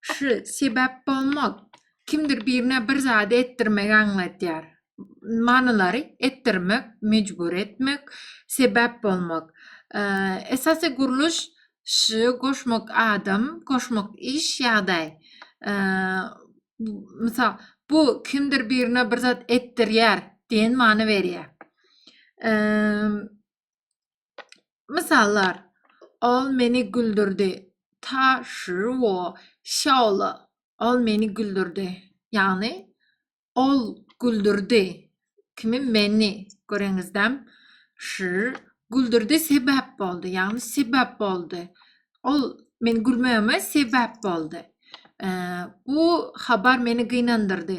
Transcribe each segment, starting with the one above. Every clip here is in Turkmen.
Şu sebäp bolmak, kimdir birine bir zady etdirmegi aňladýar. Manylary, etdirmek, mejbur etmek, sebäp bolmak. Esasy gurluş ş goşmak adam, goşmak iş, ýagdaý. Mysal, bu kimdir birine bir zat etdirýär diýen many berýär. Mysallar, Ol meni güldürdi. Ta shi wo xiao le. Ol meni güldürdi. Ýagny ol güldürdi. Kimi? Meni. Göreňizdem? Shi güldürdi sebäp boldy. Ýagny sebäp boldy. Ol meni gülmegime sebäp boldy. Bu habar meni gynandyrdy.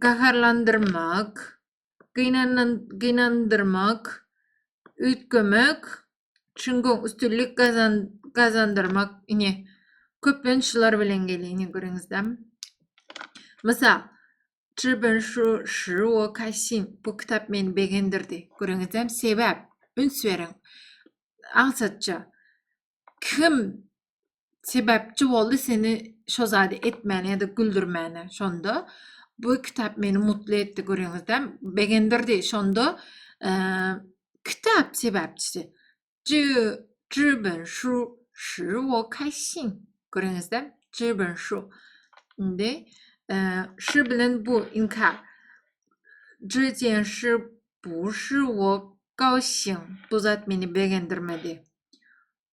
gaharlandyrmak, gynandyrmak, üýtgemek, üçin goň üstünlik gazandyrmak. Ine, köplenç şular bilen gelýär, ine görüňizde. Mysal, Çiben şu şuo kaşin, bu kitap meni begendirdi. Görüňizde, sebäp, üns beriň, aňsatja. Kim sebäpçi boldy seni şo zady etmäne ýa-da güldürmäne şonda bu kitap meni mutly etdi görýäňizdä begendirdi şonda kitap sebäpçisi zü züben şu şu wo kaýsin görýäňizdä züben şu indi şu bilen bu inkar zü diýen şu bu şu wo gaosin bu zat meni begendirmedi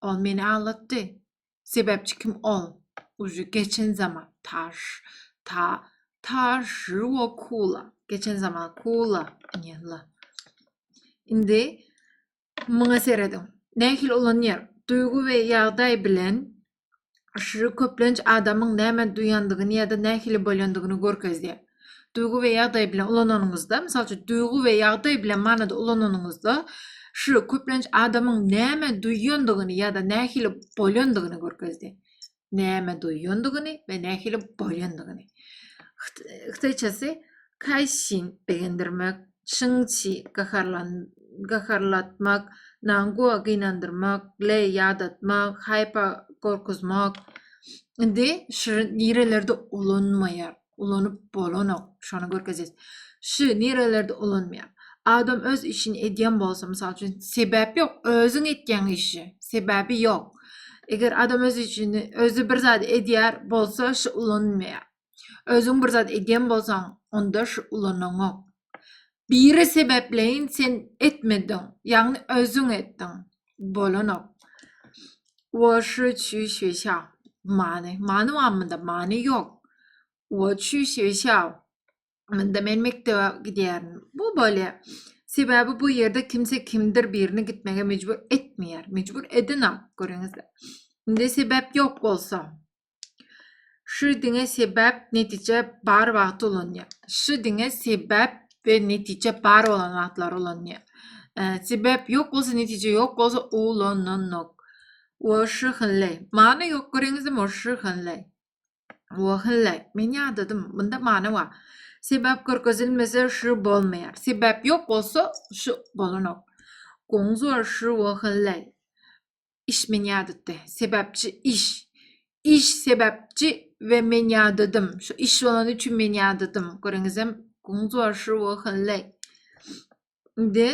Ol meni aldatdy. Sebäpçi kim ol? Uje geçen zaman. Taş. Ta. Taş. Ruo kula. Geçen zaman. Kula. Nýella. Indi muňa serediň. Nähili ulanýar? Duýgy we ýagdaý bilen Aşyry köplenç adamyň näme duýandygyny ýa-da nähili bolýandygyny görkezýär. Duýgy we ýagdaý bilen ulananyňyzda, mysal üçin, duýgy we ýagdaý bilen manyda ulananyňyzda, şyry köplenç adamyň näme duýandygyny ýa-da nähili bolýandygyny görkezdi. Näme duýandygyny we nähili bolýandygyny. Hytaýçasy kaýsin begendirmek, Şyňçi, gaharlatmak, Nangua, gynandyrmak, Lei, ýadatmak, Haipa, gorkuzmak. Indi şy nirelerde ulanmaýar? Ulanyp bolanok. Şony görkezýäs. Şy nirelerde ulanmaýar? Adam öz işini edýän bolsa, mysal üçin, sebäp ýok, özüň etýäň işi, sebäbi ýok. Eger adam öz işini, özi bir zady edýär bolsa, şy ulanylmaýar. Özüň bir zat edýän bolsaň, onda şu ulanaňok. Biri sebäpleýin sen etmediň, ýagny özüň etdiň. Bolanok. Wo şu çü şü şa. Many. Many barmy munda? Many ýok. Wo çü şü şa. Munda men mekdebe gidýärin. Bu bole. Sebäbi bu ýerde kimse kimdir birini gitmege mejbur etmeýär. Mejbur edenok. Görýäňizmi? Indi sebäp ýok bolsa. Şu diňe sebäp, netije bar wagty ulanýar. Şu diňe sebäp we netije bar bolan wagtlary ulanýar. E, sebäp ýok bolsa, netije ýok bolsa ulananok. Wo şu hille. Many ýok göreňizmi? Wo şu hille. Wo hille. Men ýadadym. Bunda many bar. Sebäp görkezilmese şu bolmaýar. Sebäp ýok bolsa şu bolanok. Goňuz wo şu wo hille. Iş men ýadatdy. Sebäpçi iş. Iş sebäpçi we men ýadadym. Şu iş bolany üçin men ýadadym. Görüňizem, guňuz bolşy we hille. Indi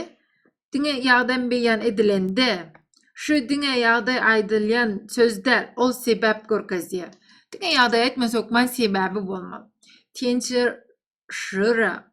diňe ýagdaý beýan edilende, şu diňe ýagdaý aýdylýan söz däl, ol sebäp görkezýär. Diňe ýagdaý aýtmas hökman sebäbi bolmaly. Tençer şyra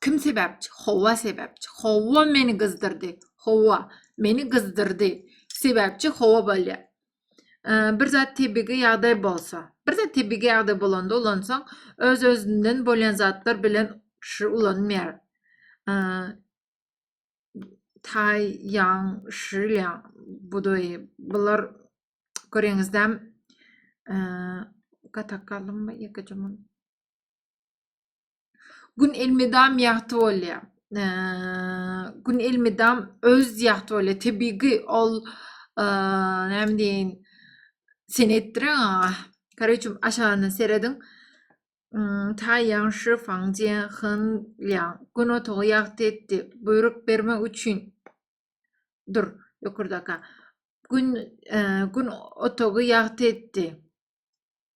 Kim sebäpçi? Howa sebäpçi. Howa meni gyzdyrdy. Howa meni gyzdyrdy. Sebäpçi howa bolýar. bir zat tebigy ýagdaý bolsa, bir zat tebigy ýagdaý bolanda ulansaň, öz özünden bolýan zatlar bilen şu ulanmaýar. Taý ýaň şilýa budaý bular göreňizdem gatak galdymmy ýekeje mun. Gün elmydam ýagty bolýar. Gün elmydam öz ýagty bolýar. Tebigy ol näme diýin sen etdireň aga. Kareçim aşagyna serediň. Ta ýagşy faňje hyn ýaň. Gün otagy ýagty etdi. Buýruk bermek üçin dur ýokurdaka. Gün gün otagy ýagty etdi.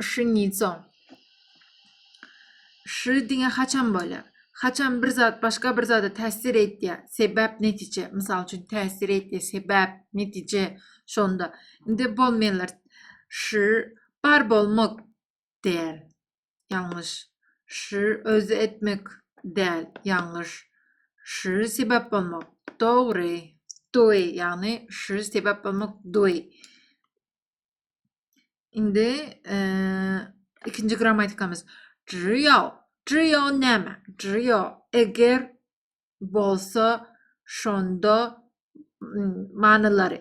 Şinnico. Ş diňe haçan bolýar? Haçan bir zat başga bir zada täsir edýär? Sebäp, netije. Mysal üçin, täsir etdi, sebäp, netije. Şonda. Indi bolmaýanlar. Ş bar bolmak däl. Ýalňyş. Ş özi etmek däl. Ýalňyş. Ş sebäp bolmak. Dogry. Doý, ýagny ş sebäp bolmak doý. Indi e, ikinji grammatikamyz. Drio. Drio näme? Drio eger bolsa şonda manylary.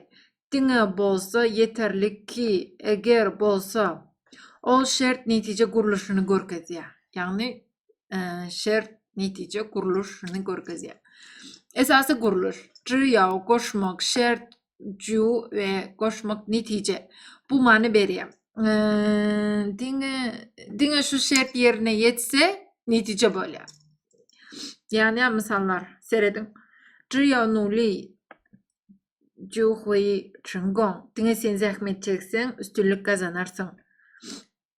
Diňe bolsa yeterlik ki, eger bolsa ol şert netije gurluşyny görkezýär. Ýagny e, şert netije gurluşyny görkezýär. Esasy gurluş. Drio goşmak, şert ju we goşmak netije bu many berýär. Diňe diňe şu şert ýerine ýetse netije bolýar. Ýani mysallar serediň. Jiýa nuli juhwi çingong. Diňe sen zähmet çekseň, üstünlik gazanarsyň.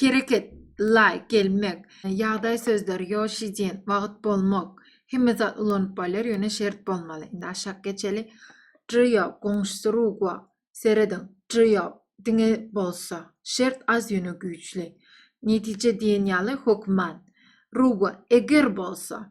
Hereket, laýk, gelmek. Ýagdaý sözleri, ýoşi diýen, wagt, bolmak. Hemme zat ulanyp bolýar, ýöne şert bolmaly. Indi aşak geçeli. Jyýo, goňşusy Rugua. Serediň, jyýo, diňe bolsa. Şert az, ýöne güýçli. Netije diýen ýaly, hokman. Rugua, eger bolsa.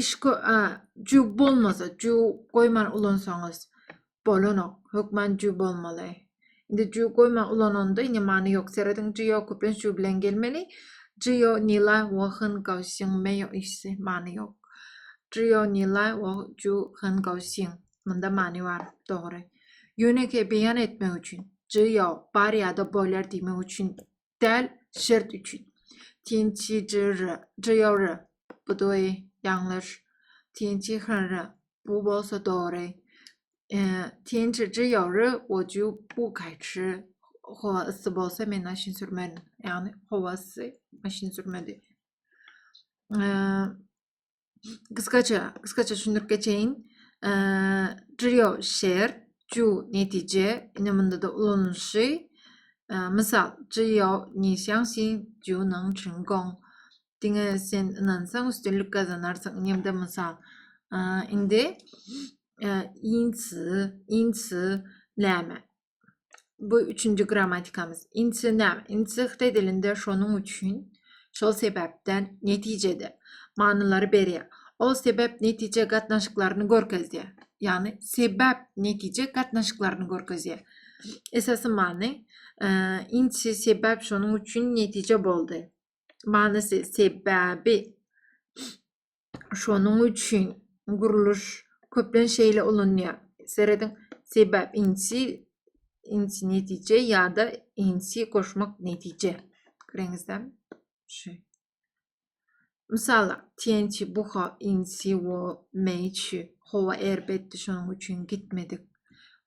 iş jüw bolmasa jüw goýman ulansaňyz bolanok hökman jüw bolmaly indi jüw goýman ulananda indi many ýok serediň jüw köplenç jüw bilen gelmeli jüw nila wohyn gawsyn meýo işsi many ýok jüw nila wo jüw hyn gawsyn munda many bar dogry ýönekeý beýan etmek üçin jüw bar ýa-da bolar diýmek üçin däl şert üçin. Tinçijirri, jiýorri, buduý, ýalňyş. Tinçihirri, bu bolsa dogry. E, Tinçijiýorri, oju bu gaýçy howa ysy bolsa men maşyn sürmerin. Ýagny howa ysy maşyn sürmedi. E, Gysgaça, gysgaça düşündirip geçeýin. Trio şert, ju netije, ine munda da ulanylyşy. Mysal, Jiyo ni xiang xi ju nang chun gong. Diňe sen ynansaň üstünlik gazanarsyň. Ine de mysal. Indi insi, insi näme? bu üçünji grammatikamyz. Insi näme? Insi hytaý dilinde şonuň üçin, şol sebäpden, netijede manylary berýär. Ol sebäp-netije gatnaşyklaryny görkezýär. Ýagny sebäp-netije gatnaşyklaryny görkezýär. Esasy many e, insi sebäp şonuň üçin netije boldy. Manysy sebäbi Şonuň üçin gurluş köplenç şeýle ulanýar. Serediň, sebäp inçi, inçi netije ýa-da inçi goşmak netije. Göreňizde? Şu. Mysal, TNT buha inçi wo meçi. Howa erbetdi, şonuň üçin gitmedik.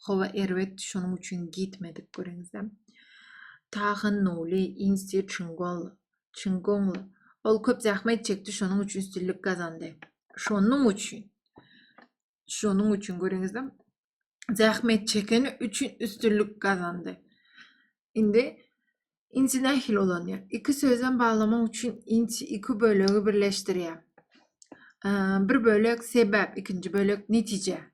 Howa erbetdi, şonuň üçin gitmedik. Göreňizde? Tahan nuli inçi çingol. Çyn goňly. Ol köp zähmet çekdi, şonuň üçin üstünlik gazandy. Şonuň üçin. Şonuň üçin görüňizde zähmet çekeni üçin üstünlik gazandy. Indi inci nähili ulanýar? Iki sözem baglamak üçin inci iki bölegi birleşdirýär. Bir bölek sebäp, ikinji bölek netije.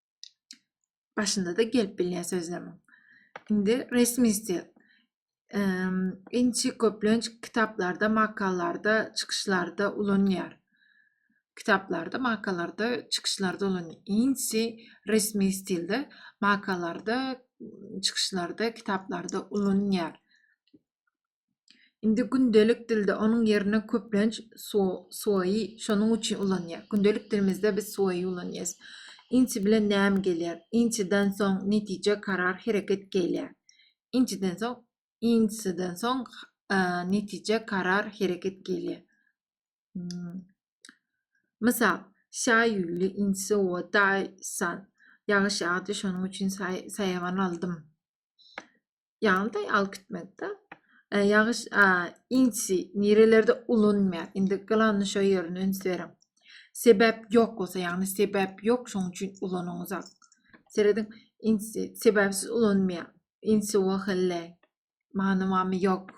Başynda-da gelip bilýär sözlemiň. Indi resmi stil. Inçi köplenç kitaplarda, makalarda, çykyşlarda ulanýar. Kitaplarda, makalarda, çykyşlarda ulanýar. Inçi resmi stilde makalarda, çykyşlarda, kitaplarda ulanýar. Indi gündelik dilde onuň ýerine köplenç so, soýy şonuň üçin ulanýar. Gündelik dilimizde biz soýy ulanýarys. Inçi bilen näm gelýär? Inçiden soň netije, karar, hereket gelýär. Inçiden soň, inçiden soň e, netije, karar, hereket gelýär. Hmm. Mysal, şaý ýüli inçi o daýsan. Ýagyş ýagdy, şonuň üçin saýawan aldym. Ýaňyda alyp gitmekde. E, ýagyş a, inçi nirelerde ulanmaýar. Indi gylanyny şo ýerine üns beriň. Sebäp ýok bolsa, ýagny sebäp ýok, şoň üçin ulanyňyzak. Serediň, inçi sebäpsiz ulanmaýar. Inçi wahille. Many mamy ýok.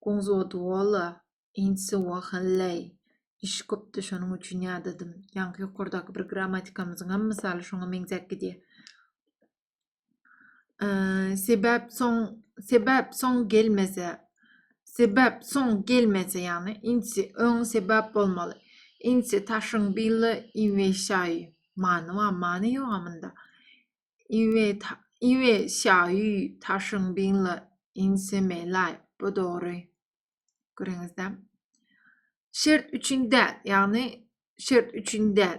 Goňz wodwola, inçi wahille. Iş köpdi, şonuň üçin ýadadym. Ýaňky ýokardaky bir grammatikamyzyň hem mysaly şoňa meňzäp gidýär. Ee, sebäp soň sebäp soň gelmese sebäp soň gelmese ýagny insi öň sebäp bolmaly insi taşyň billa inweşaý many wa many ýok amynda inwe inweşaý taşyň billa insemelay bu dogry görüňizde şert üçin däl ýagny şert üçin däl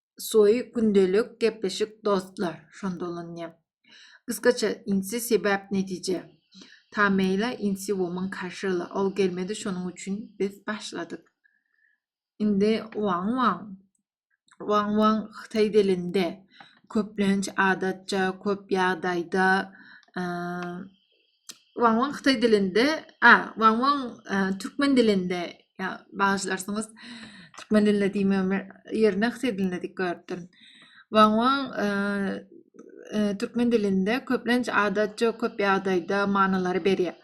Soý gündelik gepleşik dostlar şonda ulanyýar. Gysgaça insi sebäp netije. Tameýla insi woman karşyla ol gelmedi şonuň üçin biz başladyk. Indi wang wang. Wang wang hytaý dilinde köplenç adatça köp ýagdaýda Wang Wang Hytaý dilinde, a, Wang Wang e, türkmen dilinde, ya bağışlarsyňyz, türkmen dilinde diýmem ýerine Hytaý dilinde diýip gördüm. Wang Wang e, e, türkmen dilinde köplenç adatça köp ýagdaýda manylary berýär.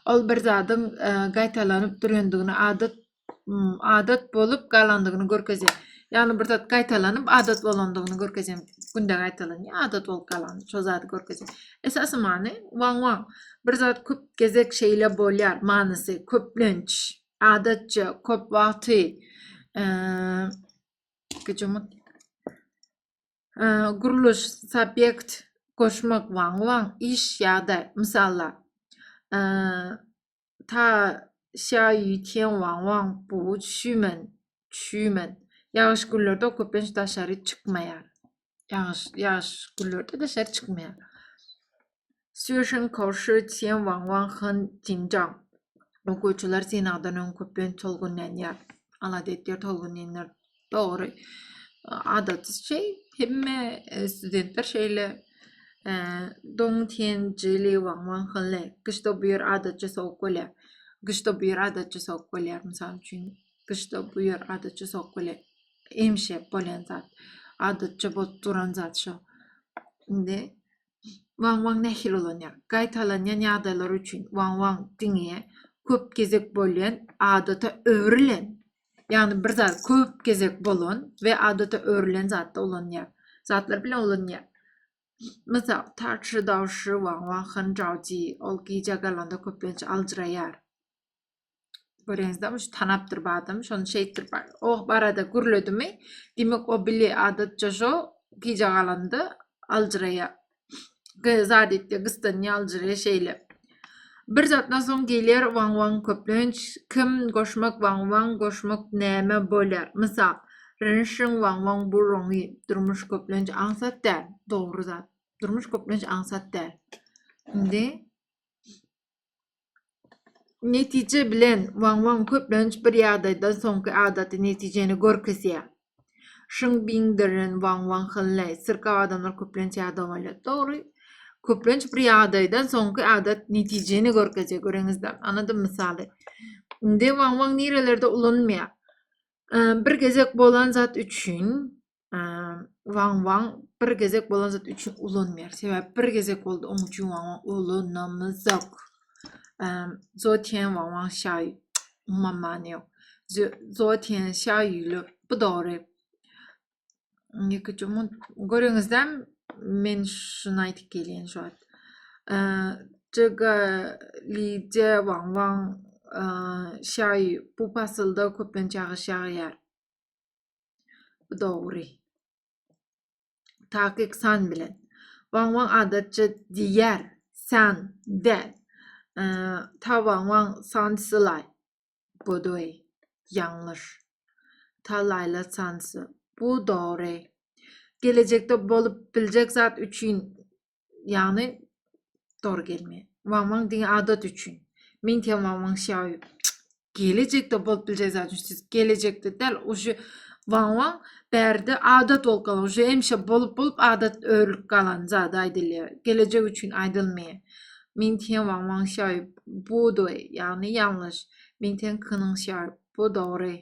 Ol bir zadyň e, gaýtalanyp durandygyny adat adat bolup galandygyny görkezýär. Ýagny bir zat gaýtalanyp adat bolandygyny görkezýän günde gaýtalanýar, adat bolup galan şo zady görkezýär. Esasy many waň waň. Bir zat köp gezek şeýle bolýar manysy köplenç, adatça, köp wagty. Gijumut. Gurluş, subýekt, goşmak waň waň, iş ýa-da mysallar. Ta Xia Yu Tian Wang Wang Bu Xümen, Xümen. Ýagyş günlerde o köplenç daşary çykmaýar. Ýagyş, ýagyş günlerde daşary çykmaýar. Sýuşin Ko Şi Tian Wang Wang Hın Tinjang. Okuwçylar synagdan öň köplenç tolgunlanýar. Alada edýär, tolgunlanýar. Dogry. Adaty şey, hemme e, studentler şeýle e, doň tenjili waň waň hyly. Gyşda bu ýer adatça sowuk bolýar. Gyşda bu ýer adatça sowuk bolýar. Mysal üçin, gyşda bu ýer adatça sowuk bolýar. Emişe bolýan zat. Adatça bolup duran zat şu. Indi Waň-waň nähili ulanýar? Gaýtalanýan ýagdaýlar üçin waň-waň diňe köp gezek bolýan, adata öwrülen, ýagny bir zat köp gezek bolan we adata öwrülen zatda ulanýar. Zatlar bilen ulanýar. Mysal, Tarçy dawşy waň-waň hynjaw diýi, ol gijä galanda köplenç aljyraýar. Görenizde şu tanapdyr bu adam. Şony şeýtdir. Oh barada gürledimi? Dimek o bili adatça şo gije galanda aljyraýa. Zadetde gysdan aljyraýa şeýle. Bir zatdan soň geler waň waň köplenç kim goşmak waň waň goşmak näme bolýar? Mysal, rynşyň waň waň bu roňy durmuş köplenç aňsat däl. Dogry zat. Durmuş köplenç aňsat däl. Indi Netije bilen Wang-Wang köplenç bir ýagdaýdan soňky adaty netijeni görkezýär. Şyň Biňderin Wang-Wang Hynleý, Syrkaw adamlar köplenç ýada galýar. Dogry. Köplenç bir ýagdaýdan soňky adat netijeni görkezýär. Göreňizler. Anadym mysaly. Indi Wang-Wang nirelerde ulanylýar? Bir gezek bolan zat üçin Wang Wang bir gezek bolan zat üçin ulanmaýar. Sebäbi bir gezek boldy, onuň üçin Wang Wang ulanamyzok. Zotian Wang Wang şaý umuman many ýok. Zotian şaý ýüli bu dogry. Ýeke çumun görüňizden men şunu aýdyp gelýän şu wagt. Çyga lije Wang Wang şaý bu pasylda köplenç ýagyş ýagýar. Bu dogry. Takyk san bilen. Waň waň adatça diýýär. San däl. Ta waň waň san sylay. Godoy. Ýalňyş. Ta laýla sansy. Bu dogry. Gelejekde bolup biljek zat üçin Ýagny dor gelme. Wangwaň diňe adat üçin. Men diýýän wangwaň şaýy gelejekde bolup biljek zat üçin. Siz gelejekde däl, uje wangwaň bärde adat bolup galan, uje hemişe bolup bolup adat örülip galan zat aýdylýar. Gelejek üçin aýdylmaýar. Men diýýän wangwaň şaýy budy, ýagny ýalňyş. Men diýýän kynyň şaýy bu dogry.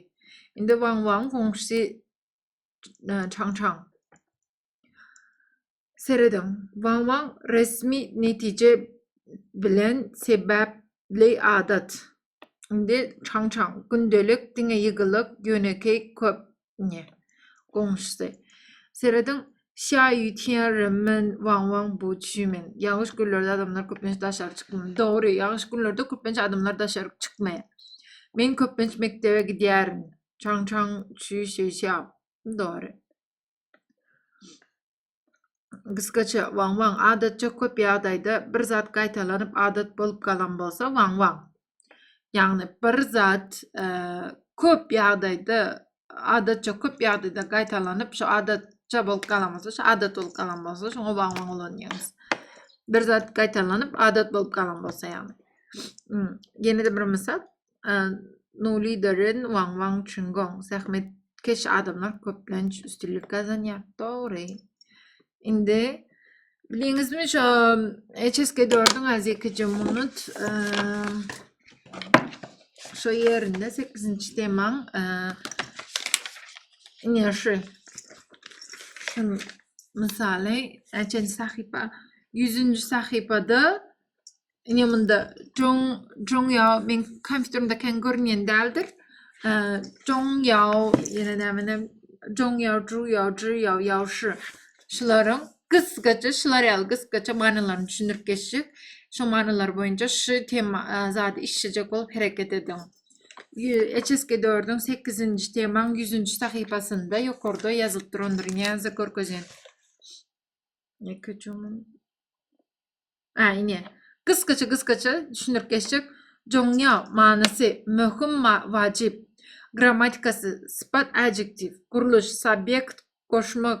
Indi wangwaň goňşusy çaň-çaň. Serediň, Wang Wang resmi netije bilen sebäpli adat. Indi Çang Çang, gündelik, diňe ýygylyk, ýönekeý, köp, ne. Goňşusy. Serediň, Xia Yu Tian Ren Men Wang Wang Bu Xu Men Ýagyş günlerde adamlar köplenç daşary çykmaýar. Dogry, ýagyş günlerde köplenç adamlar daşary çykmaýar. Men köplenç mekdebe gidýärin. Çang Çang Xu Xu Xiao Dogry. Gysgaça, waň-waň. Adatça köp ýagdaýda bir zat gaýtalanyp adat bolup galan bolsa, waň-waň. Ýagny bir zat köp ýagdaýda, adatça köp ýagdaýda gaýtalanyp, şu adat ça bolup galan bolsa, şu adat bolup galan bolsa, şoňa waň-waň ulanýarys. Bir zat gaýtalanyp, adat bolup galan bolsa ýagny. Ýene-de bir mysal. Nuly Deren, Wang Wang Çingong. Zähmet keş adamlar köplenç üstünlik gazanýar. Dogry. Indi biliňizmi şu HSK 4-üň az ýekeje minut şu ýerinde 8-nji temaň ine şu şu mysaly HSK sahypa 100-nji sahypada Ine munda Jong Jong Yao men kompýuterimde kän görünýän däldir. Jong Yao ýene nämene Jong Yao Zhu Yao Zhu Yao Yao Shi şularyň gysgaça şular ýaly gysgaça manylaryny düşündirip geçjek. Şu manylar boýunça şu tema zady işlejek bolup hereket ediň. HSK 4-iň 8-nji temaň 100-nji sahypasynda ýokarda ýazylyp durandyr. Ýa görkezýän. Ýeke çumun. Hä ine. Gysgaça gysgaça düşündirip geçjek. Joňňa manysy, möhüm ma wajyp. Grammatikasy, sypat adjektiw, gurluş, subýekt, goşmak,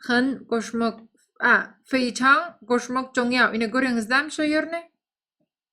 hyn, goşmak, a, feýçan, goşmak, joňňa, ine göreňizdämi şo ýerini?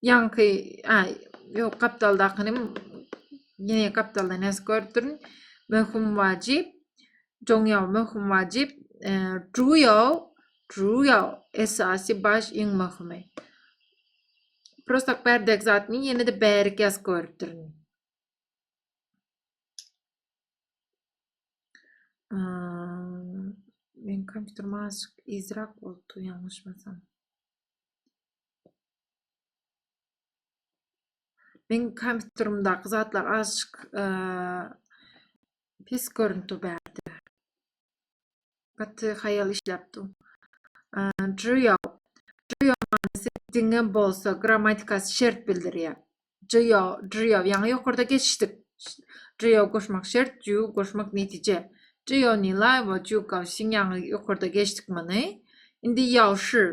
Ýaňky, a, ýok, gapdaldakyny ýene gapdalda näs görüp durun. Möhüm wajyp. Joňýaw möhüm wajyp. E, Juýaw, juýaw esasy baş iň möhümi. Prosta bärdek zatmy ýene-de bärik ýaz görüp durun. Men kompýuter maşyk izrak bolupdy, ýalňyşmasam. Men kompýuterimdäki zatlar azajyk pis görünip dur bärde. Gaty haýal işläp dur. Juyo. Juyo manysy diňe bolsa grammatikasy şert bildirýär. Juyo, juyo. Ýaňy ýokarda geçdik. Juyo goşmak şert, juyo goşmak netije. Juyo ni laýwa, juyo gawşin ýaňy ýokarda geçdik muny. Indi ýawşy.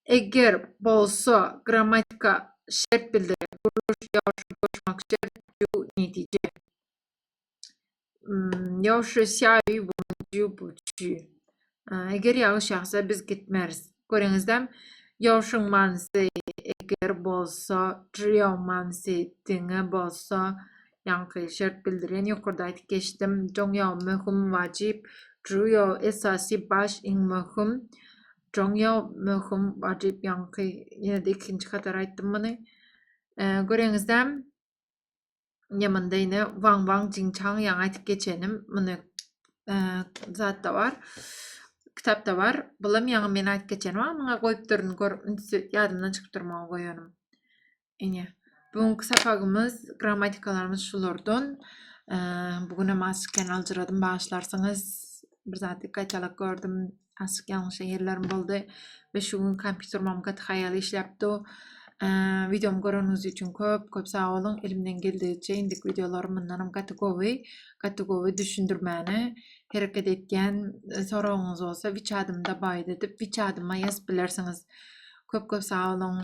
Eger, bolsa, grammatika şert bildirýär, gurluş, ýowşa, goşmak şert, ju, netije. Ýowşa sýaýy bolan ju, bu çü. Eger ýagyş ýagsa, biz gitmeris. Göreňizem, ýowşuň manysy eger bolsa, jüýew manysy diňe bolsa, Ýaňky şert bildirýän ýokarda aýdyp geçdim. Joňýao möhüm, wajyp. Juýo esasy, baş, iň möhüm. Joňýao möhüm, wajyp ýaňky ýene-de ikinji hatar aýtdym muny. Göreňizde ýa munda ýene waň waň jiň çaň ýaňy aýdyp geçenim muny zatda bar. Kitapda bar. Bulam ýaňy men aýdyp geçenim. Muňa goýup durun gör ýadymdan çykyp durma goýanym. Ine, bu günki sapagymyz, grammatikalarymyz şulardan. Bu gün hem açyk ýan aljyradym, başlarsyňyz. Bir zat gaýtalak gördüm, açyk ýalňyşan ýerlerim boldy we şu gün kompýuterim hem gaty haýal işläpdi. Videomy göreniňiz üçin köp, köp sag boluň. Elimden geldigiçe indik videolarym mundan hem gaty gowy, gaty gowy düşündirmäne hereket etýän. Soragyňyz bolsa, wiçadymda baýda diýip, wiçadyma ýazyp bilersiňiz. Köp-köp sag boluň.